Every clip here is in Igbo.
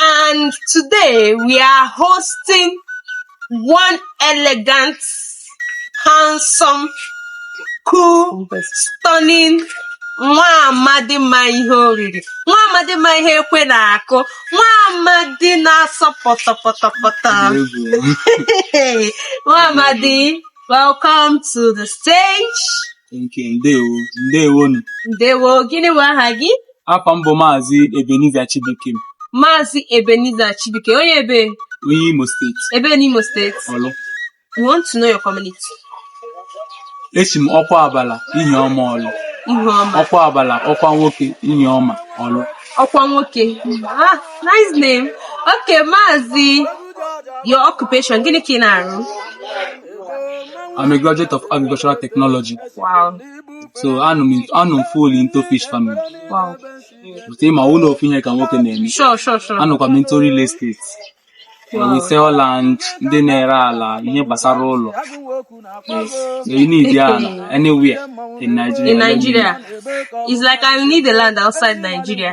and today we are hosting one elegant, handsome, cool, stunning nwa amadi ma ihe oriri nwa amadi ma ihe ekwe na-akụ nwa amadi na-asọ pọtọpọtọpọtọ nwa amadi welcome to the stage ndewo ndewo ndewo gịnị bụ aha gị Afa m bụ Maazị Ebenezer Chibuikem, Maazị Ebenezer Chibuike, onye ebe? Onye Imo State. Ebe n'Imo State? Ọlụ. We want to know your community. Esi m Okwuabala Ihioma Ọlụ. Ihioma. Okwuabala ọkwa nwoke Ihioma Ọlụ. Ọkwa nwoke. Ah, nice name. Okay, Maazị, your occupation, gịnị ka ị na-arụ? I'm a graduate of agricultural technology. Wow. so anọ m fully into fish farming Wow. but ị ma ọ bụrọ ofu ihe ka nwoke na-eme Sure, sure, sure. anọkwa m into real estate Wow. we sell land ndị na-ere ala ihe gbasara ụlọ so ị need ala anywhere in Nigeria In Nigeria, it's like I need the land outside Nigeria.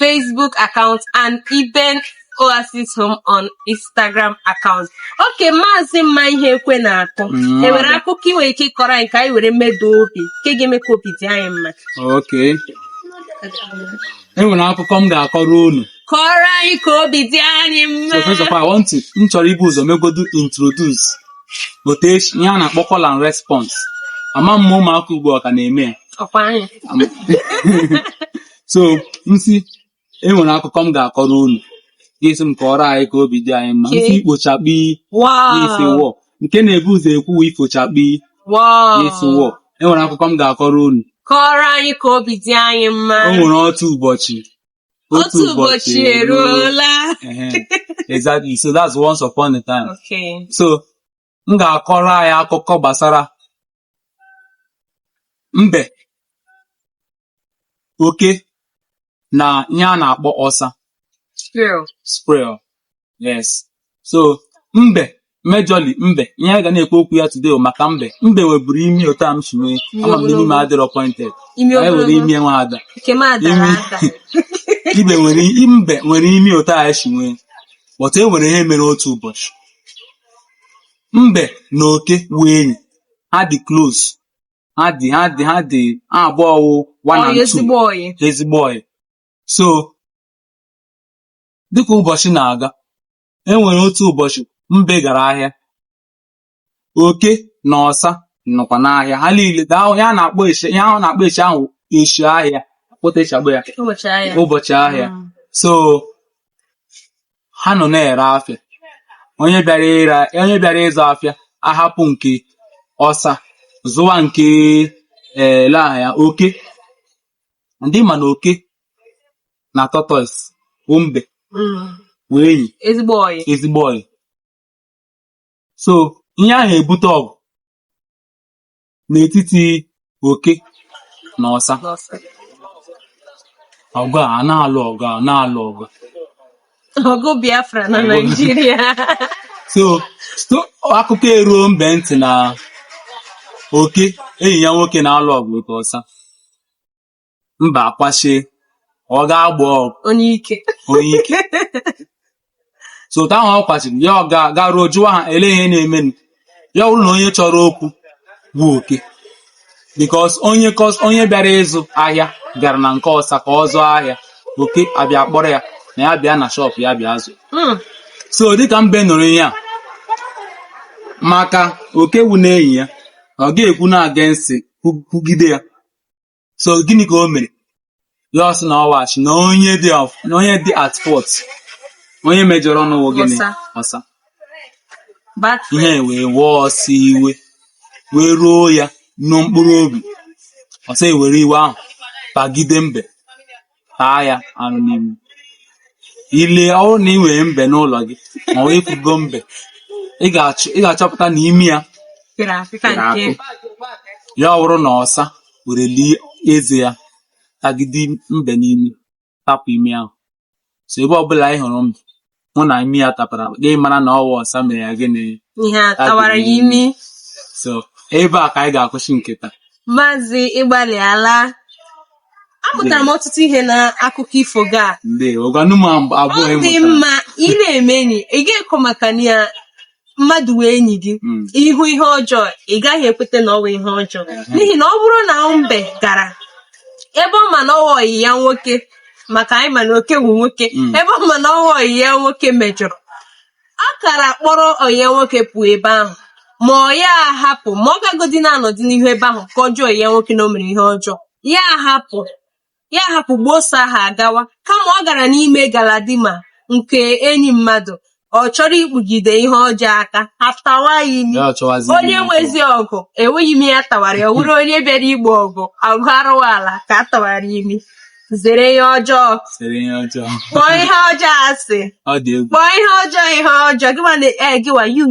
Facebook account and Eben Oasis Home on Instagram account. Okay maazị ma ihe ekwe na-akụ. enwere akụkọ i nwere ike ịkọrọ anyị ka anyị were meda obi nke ga-eme ka obi dị anyị mma okay enwere akụkọ m ga-akọrọ unu kọrọ anyị ka obi dị anyị mma so first of all, I want to m chọrọ ibu ụzọ megodu introduce bụ ihe a na-akpọ call and response ama m ma ụmụaka ugbu a ọ ka na-eme ya ọkwa anyị so m sị enwere akụkọ m ga-akọrọ unu ị sị m kọrọ anyị ka obi dị anyị mma m sị ikpochakpi ị sị wọ nke na-ebu ụzọ ekwu ifochakpi ị sị wọ enwere akụkọ m ga-akọrọ unu kọrọ anyị ka obi dị anyị mma o nwere otu ụbọchị otu ụbọchị eruola exactly so that's once upon a time okay so m ga-akọrọ anyị akụkọ gbasara mbe oke na ihe a na-akpọ ọsa squirrel yes so mbe majorly mbe ihe anyị ga na-ekwu okwu ya today bụ maka mbe mbe nweburu imi otu a m si nwee ama m na imi m adịrọ pointed Imi anyị nwere ogologo. imi nwa ada Nke m adara Imi. ada. mbe nwere mbe nwere imi otu anyị si nwee but e nwere ihe mere otu ụbọchị Mbe na oke wụ enyi. Ha dị close. Ha dị ha dị ha dị ha abụọ wụ one Ọyị and two. ezigbo ọyị. ezigbo ọyị so dịka ụbọchị na-aga e nwere otu ụbọchị mbe gara ahịa oke na ọsa nọkwa n'ahịa ha niile daa ya na-akpọ eshi ya ahụ na-akpọ eshi ahụ eshi ahịa kpọta eshi akpọ ya Ụbọchị ahịa. ụbọchị ahịa Mm. so ha nọ na-ere afịa onye bịara ịra onye bịara ịzụ afịa ahapụ nke ọsa zụwa nke ee ele aha ya oke ndị ma na oke na tortoise wụ mbe wụ enyi ezigbo ọyị ezigbo ọyị so ihe ahụ ebute ọgụ n'etiti oke na ọsa ọgụ a na-alụ ọgụ a na-alụ ọgụ ọgụ biafra na naijiria so so akụkọ eruo mbe ntị na oke enyi ya nwoke na-alụ ọgụ otu ọsa mbe akwashie ọ ga-agba ọgụ onye ike onye ike so otu ahụ ọ kwachiri ya ọ ga- garuo jụwa ha ele ihe na-emenụ ya ọ wụrụ na onye chọrọ okwu wụ oke because onye kọs- onye bịara ịzụ ahịa bịara na nke ọsa ka ọ zụọ ahịa oke abịa kpọrọ ya na ya bịa na shop ya bịa zụ Mm. so dịka mbe nụrụ ihe a maka oke wụ na enyi ya ọ ga-ekwu na against kwugide ya so gịnị ka o mere ya asị na ọwachi na onye dị na onye dị at fault onye mejọrọnụ wụ gịnị ọsa iwe wee wee ọsa iwe wee ruo ya na mkpụrụ obi ọsa ewere iwe ahụ bagide mbe taa ya arụ n'imi ị lee ọ wụrụ na ị nwere mbe n'ụlọ gị ma ọ wụ ị fụgo mbe ị ga-achọpụta na imi ya ya ọ wụrụ na ọsa were lie eze ya tagide mbe n'imi tapụ imi ahụ so ebe ọbụla ị hụrụ mbe hụ na imi ya tapara gị mara na ọ wụ ọsa mere ya gịnị ihe a tawara ya imi so ebe a ka anyị ga-akwụsị nke taa maazị ịgbalịala amụtara m ọtụtụ ihe na akụkọ ifo gị a ndewo gwanụ m abụọ ọ dị ịmụtara mma ị na-eme enyi ị ga-ekwu maka na ya mmadụ wụ enyi gị hmm. ị hụ ihe ọjọọ ị gaghị ekweta na ọ wụ ihe ọjọọ hmm. n'ihi na ọ bụrụ na mbe gara ebe ọ ma na ọ wụ ọyị ya nwoke maka anyị ma na oke wụ nwoke hmm. ebe ọ ma na ọ wụ ọyị ya nwoke mejọrọ ọ kara kpọrọ ọyị ya nwoke pụọ ebe ahụ ma ọ wụ ya ahapụ ma ọ gagodi na-anọdị n'ihu ebe ahụ kọjọọ ọyị ya nwoke na o mere ihe ọjọọ ya ahapụ ya hapụ gboso ahụ agawa kama ọ gara n'ime Galadima nke enyi mmadụ ọ chọrọ ikpugide ihe ọjọọ aka a tawa ya imi onye nwezi ọgụ enweghị imi a tawara ya wụrụ onye bịara igbo ọgụ ọgụ arụwa ala ka a tawara imi zere ihe ọjọọ kpọọ ihe ọjọọ asị kpọọ ihe ọjọọ ihe ọjọọ gịwa na eh, gịwa you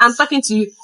I'm talking to you